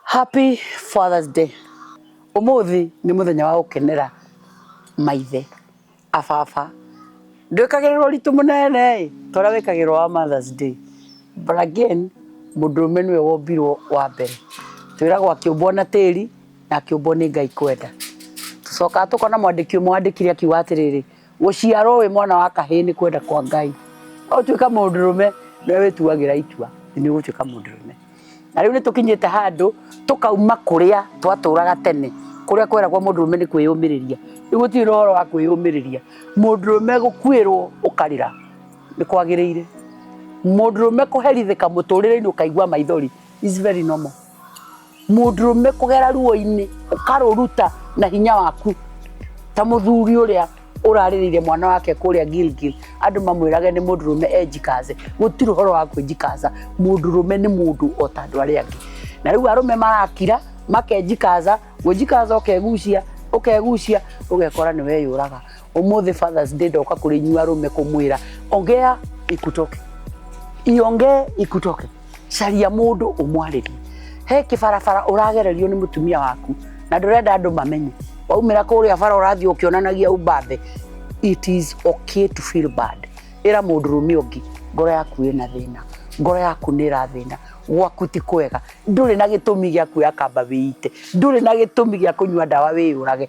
Happy Father's Day. Umuthi ni muthenya wa gukenera maithe a baba. Ndwikagirirwo ritu munene toria wikagirwo wa Mother's Day. But again mundurume niwe wombirwo wa mbere. Twiragwo akiumbwo na tiri na akiumbwo ni Ngai kwenda. Tucokaga tukona mwandiki umwe wandikire akiuga atiriri Gũciarwo wĩ mwana wa kahĩĩ nĩ kwenda kwa Ngai. No ũtuĩka mũndũrũme nĩ wĩtuagĩra itua nĩ ũgũtuĩka mũndũrũme. Na rĩu nĩ tũkinyĩte handũ tũkauma kũrĩa twatũraga tene kũrĩa kweragwo mũndũrũme nĩ kwĩyũmĩrĩria. Rĩu gũtirĩ na ũhoro wa kwĩyũmĩrĩria. Mũndũrũme gũkuĩrwo ũkarĩra nĩ kwagĩrĩire. Mũndũrũme kũherithĩka mũtũrĩre-inĩ ũkaigua maithori is very normal. mũndũrũme kũgera ruo-inĩ ũkarũruta na hinya waku ta mũthuri ũrĩa ũrarĩrĩire mwana wake kũrĩa Gilgil andũ mamwĩrage nĩ mũndũrũme enjikaze gũtirĩ ũhoro wa kwĩnjikaza mũndũrũme nĩ mũndũ o ta andũ arĩa angĩ na rĩu arũme marakira makenjikaza gwĩnjikaza ũkegucia ũkegucia ũgekora nĩ weyũraga Umuthi Father's Day ndoka kũrĩ inyuĩ arũme kũmwĩra ongea ikutoke, iongee ikutoke, caria mũndũ ũmwarĩrie. He kĩbarabara ũragererio nĩ mũtumia waku na ndũrenda andũ mamenye, waumĩra kũrĩa bara ũrathiĩ ũkĩonanagia ũmbabe. It is okay to feel bad. Ĩra mũndũrũme ũngĩ ngoro yaku ĩna thĩna, ngoro yaku nĩ ĩrathĩna, gwaku ti kwega, ndũrĩ na gĩtũmi gĩa kuoya kamba wĩite, ndũrĩ na gĩtũmi gĩa kũnyua ndawa wĩyũrage.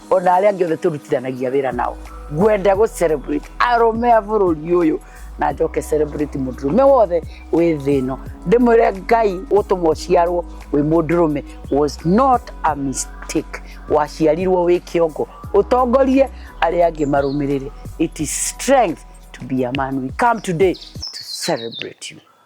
o na arĩa angĩ othe tũrutithanagia wĩra nao ngwenda gũ celebrate arũme a bũrũri ũyũ na njoke celebrate mũndũrũme wothe wĩ thĩ ĩno ndĩmwĩre ngai gũtũma ũciarwo wĩ mũndũrũme was not a mistake waciarirwo wĩ kĩongo ũtongorie arĩa angĩ marũmĩrĩre it is strength to be a man we come today to celebrate you